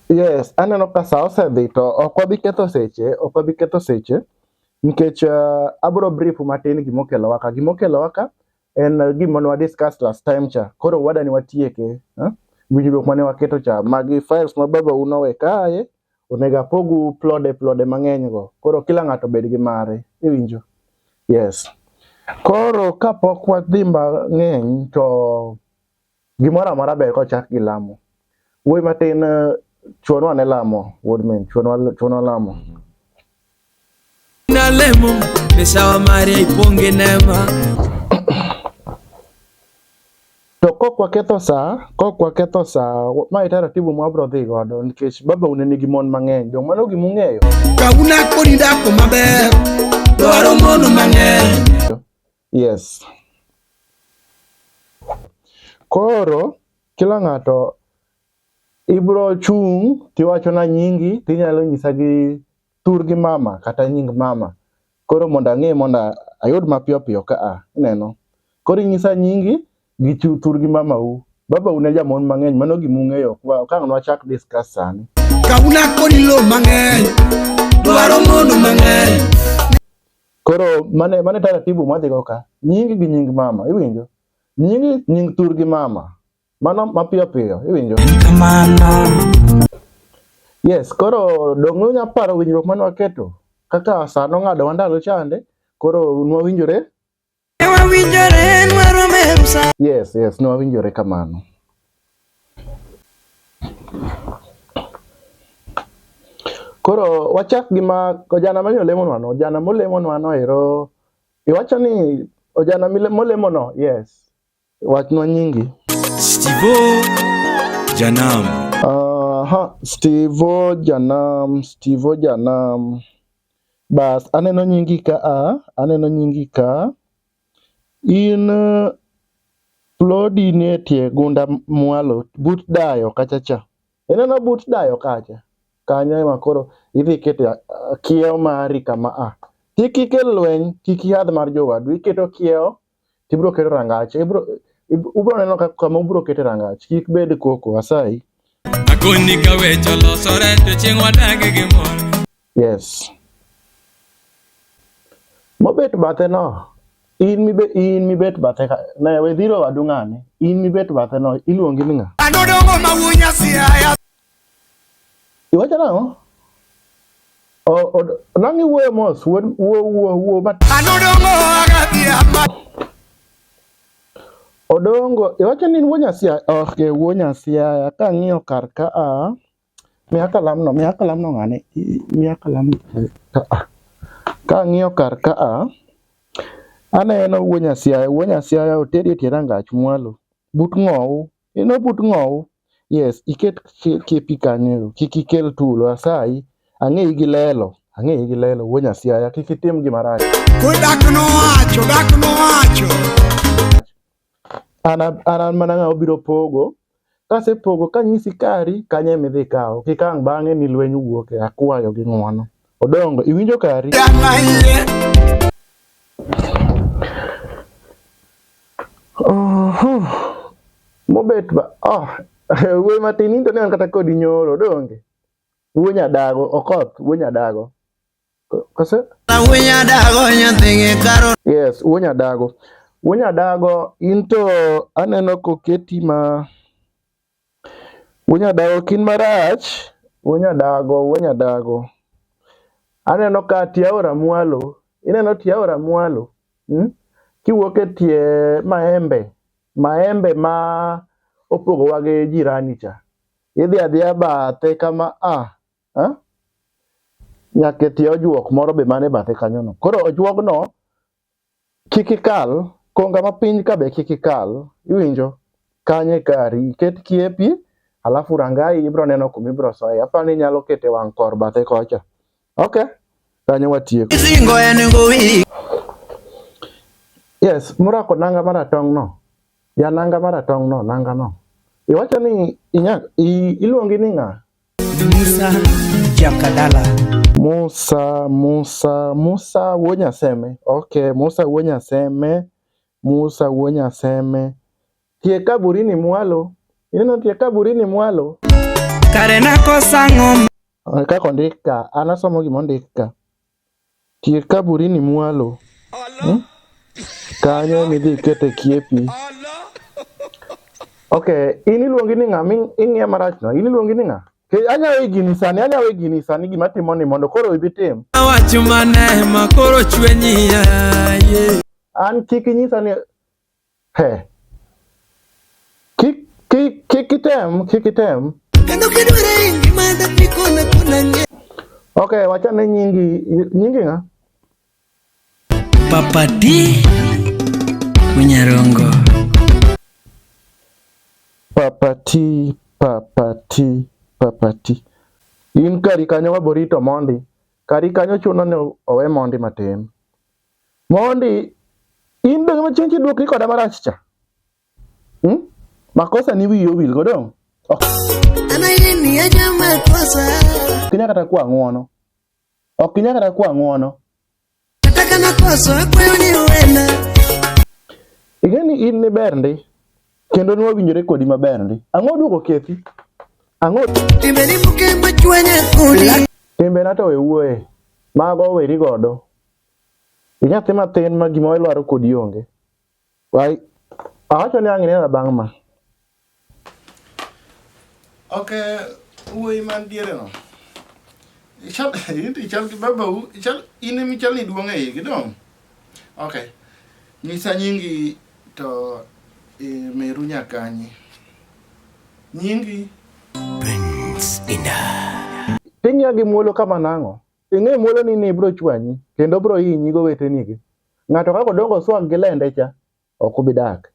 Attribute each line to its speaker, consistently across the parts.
Speaker 1: Yes, aneno ka sa osedhi to ok wabi ketho seche, ok wabi ketho seche nikech uh, abro brief matin gima okelowa ka. Gima okelowa ka en uh, gima ne discuss last time cha. Koro wadani watieke, eh? Winjruok mane waketo cha, magi files ma baba uno we kae, Onego apogu plode plode mang'eny go. Koro kila ng'ato bed gi mare. Iwinjo? Yes. Koro kapok wadhi mang'eny to gimoro amora ber kochak gi lamo. Wuoyi matin chuonwa ne lamo, wuod min, chuonwa lamo.
Speaker 2: Nalemo mesawa Maria iponge nema
Speaker 1: To kok waketho saa, kok waketho saa, ma e taratibu ma wabro dhi godo nikech baba une nigi mon mang'eny, dong' mano gima ung'eyo. Kawuna kodi
Speaker 2: dako maber, dwaro mon mang'eny. Yes.
Speaker 1: Koro kila ng'ato ibro chung' tiwachona nyingi tinyalo nyisa gi thurgi mama kata nying mama koro mondo ang'e mondo ayud mapiyo piyo ka a ineno koro inyisa nyingi gi thurgi mamau babau ne jamon mang'eny mano gima ung'eyo kang' nwachak discuss sani kauna koni
Speaker 2: lo mang'eny dwaro mondo mang'eny
Speaker 1: Koro mane mane taratibu mwadhi go ka nying gi nying mama iwinjo nying nying tur gi mama mano mapiyo piyo iwinjo mano yes koro dong unya paro winjruok mane waketo kaka sano ng'ado wandalo chande koro nwawinjore Yes, yes, no awinjore kamano. Koro wachak gi ma ojana ma nolemo no, ojana molemo no ero iwacho ni ojana molemo no, yes. Wachnwa nyingi. Stivo
Speaker 2: Janam. Aha,
Speaker 1: Stivo Janam, Stivo Janam. Bas, aneno nyingi ka a, aneno nyingi ka. In uh, plodi nie tie gunda mwalo, but dayo kacha cha. Ineno but dayo kacha. Kanyo ema koro idhi kete uh, kiewo mari kama a. Kik ikel lweny, kik ihadh mar jowadu, iketo kiewo to ibiro kete rangach ibiro ubiro neno kama ubiro kete rangach kik bed koko asayi akoni
Speaker 2: ka weche olosore to chieng' wadag gi mor yes
Speaker 1: mobet bathe no in mibe in mibet bathe ka ne we dhiro wadu ng'ane in mibet bathe no iluongi ni ng'a anodongo ma wunya
Speaker 2: siaya
Speaker 1: Iwacho nang'o? Nang'i wuoyo mos, wuo wuo wuo mat. Anodongo agadi
Speaker 2: ama.
Speaker 1: Odongo, iwacho ni wuo nyasia, ok wuo nyasia, kang'iyo kar ka a. Miya kalam no, miya kalam no ng'ane, miya kalam no ka a. Kang'iyo kar ka a, aneno wuo nyasia, wuo nyasia oteri e tie rangach mwalo, but ng'owu. You know but ng'owu. Yes, iket kepi kanyo, kik ikel tulo asayi. Ang'eyi gi lelo, ang'eyi gi lelo wuo nyasiaya, kik itim gima rach. Kodak
Speaker 2: nowacho, dak nowacho.
Speaker 1: An an an mana ng'ama obiro pogo, kasepogo kanyisi kari kanyo ema idhi ikawo, kik ang' bang'e ni lweny wuoke, akwayo gi ng'wono. Odongo, iwinjo kari? Oho. Mobet ba. Oh. Wuoyi matin into ne an kata kodi nyoro, donge? Wuoyi nyadago, okoth, wuoyi nyadago. Kose? Wuoyi
Speaker 2: nyadago nyathigi karo. Yes, wuoyi nyadago.
Speaker 1: Wuoyi nyadago into aneno koketi ma Wuo nyadago kin marach. Wuo nyadago, wuo nyadago. Aneno ka tie aora mwalo. Ineno tie aora mwalo? Hmm? Kiwuok e tie maembe, maembe ma opogowa gi jirani cha. Idhi adhiya bathe kama a. Ah, ha? Ah? Nyaka e tie ojuok moro be mane bathe kanyono. Koro ojuogno Kik ikal, konga ma piny ka be kik ikal, iwinjo? Kanye kari, iket kiepi, alafu rangai ibro neno kuma ibro soye. Apani inyalo kete wang' kor bathe kocha. Okay, kanyo watieko. Isingo en gowi. Yes, murako nanga maratong' no. Ya nanga maratong' no, nanga no. Iwacho ni inya, iluongi ni ng'a? Musa
Speaker 2: Jakadala. Musa, Musa,
Speaker 1: Musa Wonyaseme. Okay, Musa Wonyaseme. Musa Wonyaseme. Tie kaburini mwalo. Ineno tie kaburini mwalo.
Speaker 2: Kare nakosa ng'om. Kaka ondika,
Speaker 1: anasomo gima ondika. Tie kaburini mwalo. Hmm? Kanyo emidhi ikete kiepi. Okay, in iluongi ni ng'a ing'iya marach no? In iluongi ni ng'a? Anyawe gini sani, anyawe gini sani gima timo ni mondo koro ibi tim. Awacho mane
Speaker 2: ma koro chwenyi ya. An kik
Speaker 1: inyisa ni He. Kik kik kik item, kik item. Kendo kidware
Speaker 2: ingi manda kikona kona nge. Okay, wacha
Speaker 1: ne nyingi nyingi nga. Papa
Speaker 2: D Munyarongo. Papa T,
Speaker 1: Papa T, Papa T. In kari kanyo waborito mondi. Kari kanyo chuno ni owe mondi matin. Mondi in be ng'ama chieng' kidwokri koda marach cha. Hmm? Makosa ni wiyi owil go dong. Oh.
Speaker 2: Kinya kata
Speaker 1: kwa ng'wono. Ok kinya kata kwa ng'wono. Nataka
Speaker 2: makosa akwayo ni uwena.
Speaker 1: Igeni in ni ber ndi. Kendo ni wawinjore kodi maber ndi. Ang'o duoko kethi? Ang'o? Timbe ni muke
Speaker 2: machwanya kodi. Timbe na to we
Speaker 1: wuoye. Mago weri godo. Inyathi mathin ma gima ilwaro kodi onge. Wai awacho ni ang' inena bang' ma.
Speaker 3: Ok wuoyi man diere no. Ichal ichal gi baba u ichal in emi chal ni duong' e igi dong. Ok. Nyisa nyingi to e, meru nyakanyi. Nyingi.
Speaker 2: Prince Indah. Pinya gi muolo
Speaker 1: kama nang'o? Ing'e muolo ni ne bro chwanyi kendo bro hinyi go wetenigi. Ng'ato kako dongo swag gi lende cha ok obi dak.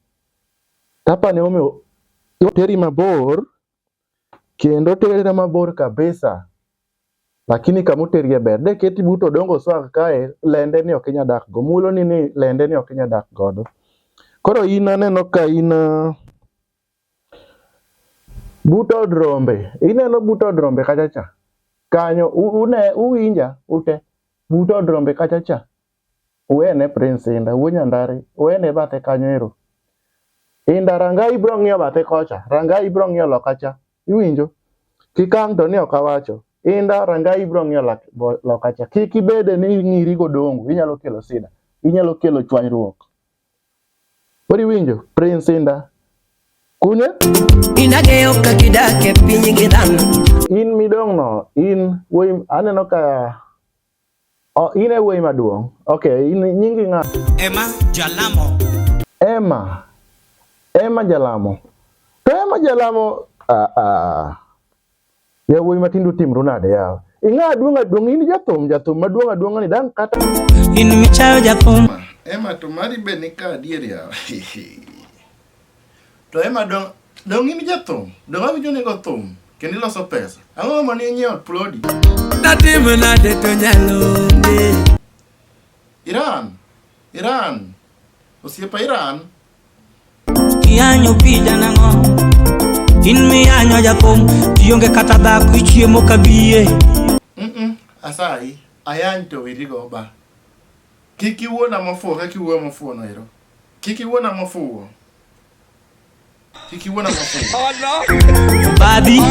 Speaker 1: Tapa ne omi teri mabor kendo teri mabor kabisa. Lakini kamoteri e ber. De keti buto dongo swag kae lende ni ok inya dak go. Muolo ni ni lende ni ok inya dak godo. Koro in aneno ka in uh, But od rombe, ineno but od rombe kacha cha. Kanyo une uwinja ute. But od rombe kacha cha. Uene Prince Inda, wuo Nyandari, uene bathe kanyo ero. Inda ranga ibro ng'iyo bathe kocha, ranga ibro ng'iyo loka cha. Iwinjo? Kikang' to ni ok awacho. Inda ranga ibro ng'iyo loka cha. Kik ibede ni ng'iri godongo, inyalo kelo sida. Inyalo kelo chwanyruok. Kodi iwinjo Prince Indah kune indageyo
Speaker 2: ka gidak e piny gi dhano in midong'
Speaker 1: no in wuoyi aneno ka oh, in e wuoyi maduong' ok in nyingi ng'a Emma Jalamo
Speaker 2: Emma
Speaker 1: Emma Jalamo to Emma Jalamo ah, ah. Yawuoyi matindo timru nade yawa? Ing'a duong' aduong' in jathum jathum maduong' aduong' ni dan kata in michayo
Speaker 2: jathum. Ema to mari
Speaker 3: be ni ka adier yawa. To ema dong dong in jathum, dong awinjo ni go thum kendo iloso pesa. Ang'o ma ni nyiewo plodi? Datim
Speaker 2: nade to nyalo ndi. Iran,
Speaker 3: Iran, osiepa Iran
Speaker 2: Iyanyo pija nang'o in miyanyo jakom ionge kata dhako ichiemo ka biye
Speaker 3: asayi ayany to wirigo ba kik iwuona mofuwo kaka iwuoyo mofuwo no ero kik iwuona mofuwo kik iwuona mofuwo oh, badi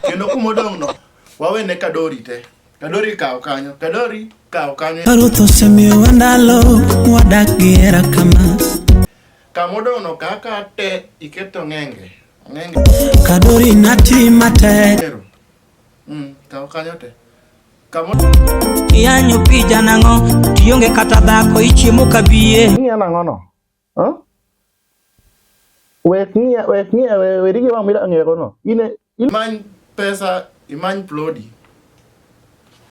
Speaker 2: kendo
Speaker 3: kuma odong'no wawene kadori te Kadori kawo kanyo, Kadori kawo
Speaker 2: kanyo. Ruth osemiyowa ndalo wadak gi hera kama. Kamodono
Speaker 3: kaka te iketo ng'enge. Ng'enge.
Speaker 2: Kadori nati matek. Mm, kawo
Speaker 3: kanyo te. Iyanyo
Speaker 2: pija nang'o, tionge kata dhako, ichiemo kabiye. Ing'iya nang'ono?
Speaker 1: Huh? Wek ng'iya, wek ng'iya, we we digi wang'
Speaker 3: mila ng'ero
Speaker 1: no.
Speaker 3: Ine,
Speaker 1: ine. Imany
Speaker 3: pesa, imany
Speaker 1: plodi.